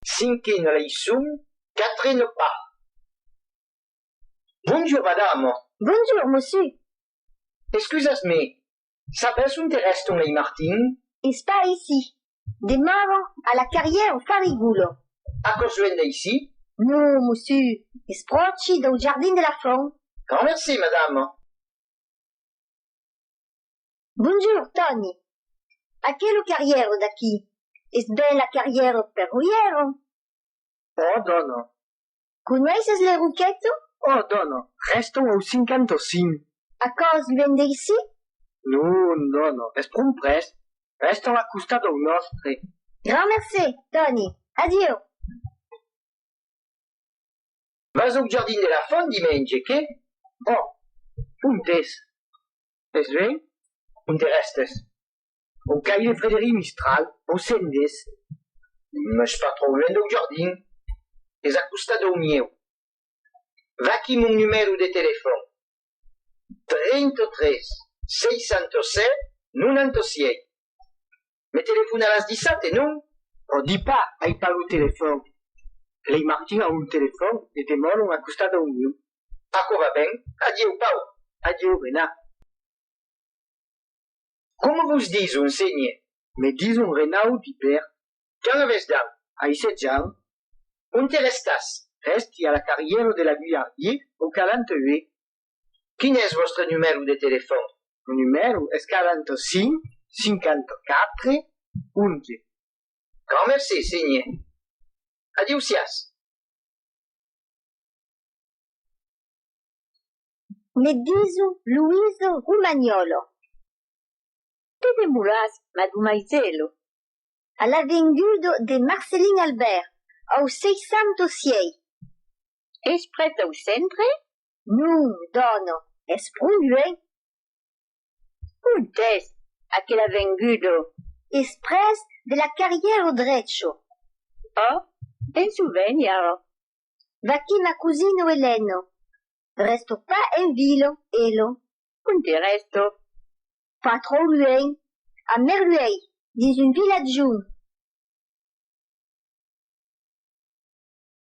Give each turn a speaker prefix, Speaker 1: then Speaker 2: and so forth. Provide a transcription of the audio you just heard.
Speaker 1: Cinque no lei sum, quatre no pas. Bonjour, madame. Bonjour, monsieur. Excusas-me, sabes ont er eston lei Martin? Es pas aicí.
Speaker 2: Demavan a la carrière au Farigoule. Aquò's luènh
Speaker 1: d'aicí? Non, monsieur,
Speaker 2: es pròchi dau jardin de la Font. Grand merci,
Speaker 1: madame.
Speaker 2: Bonjour, Tòni! Aquelo carrièro d'aquí es ben la carrièro Perruièro?
Speaker 1: Òh, dòna! Coneisses
Speaker 2: le Roqueto? Òh, dòna!
Speaker 1: Rèstau au 55. Aquò's
Speaker 2: luènh d'aicí? Non,
Speaker 1: dòna, es pron près. Rèstau a costat dau nòstre. Grand mercé,
Speaker 2: Tòni! Adieu!
Speaker 1: Vas au jardin de la font dimenge, qué? Òh! Ont es? Es ve, un de rèstes. Au caire de Frederic Mistral, au Cendes, mès pas trop luènh dau jardin, es a costat dau mieu. Vaquí mon numèro de telefòn, 33 607 98. Me telefonaràs dissabte, non? Pro di pas, ai pas lo telefòn. Lei Martin a un telefòn e demòron a costat dau miu. Aquò va ben. Adieu, Pau. Adieu, Renat. Coma vos dison, senhe? Me dison Renau di per. Quand avètz dau? Ai setz ans. Onte restàs? Rèsti a la carrièra de la Guillardier, au Calanteue. Quin es vòstre numèro de telefòn? Lo numèro es 45 54 11. Grand merci, senhor. Adiusiás.
Speaker 2: Me diso Luiso Romagnolo.
Speaker 3: Te demoràs, madumaiselo, a
Speaker 2: l'avengudo de Marcelin Albèrt, au 606. Es
Speaker 3: près dau centre? Non,
Speaker 2: dòna, es pro luenh. Ont
Speaker 3: es aquela vengudo? Es pres
Speaker 2: de la carrièra au drecho. Oh,
Speaker 3: penso venir ara. Vaquí
Speaker 2: ma cosina Elena. Rèsto pas en vila, Elo. Ont i rèsto? Pas tròu luenh, a Merluèi, dins un vilatjon.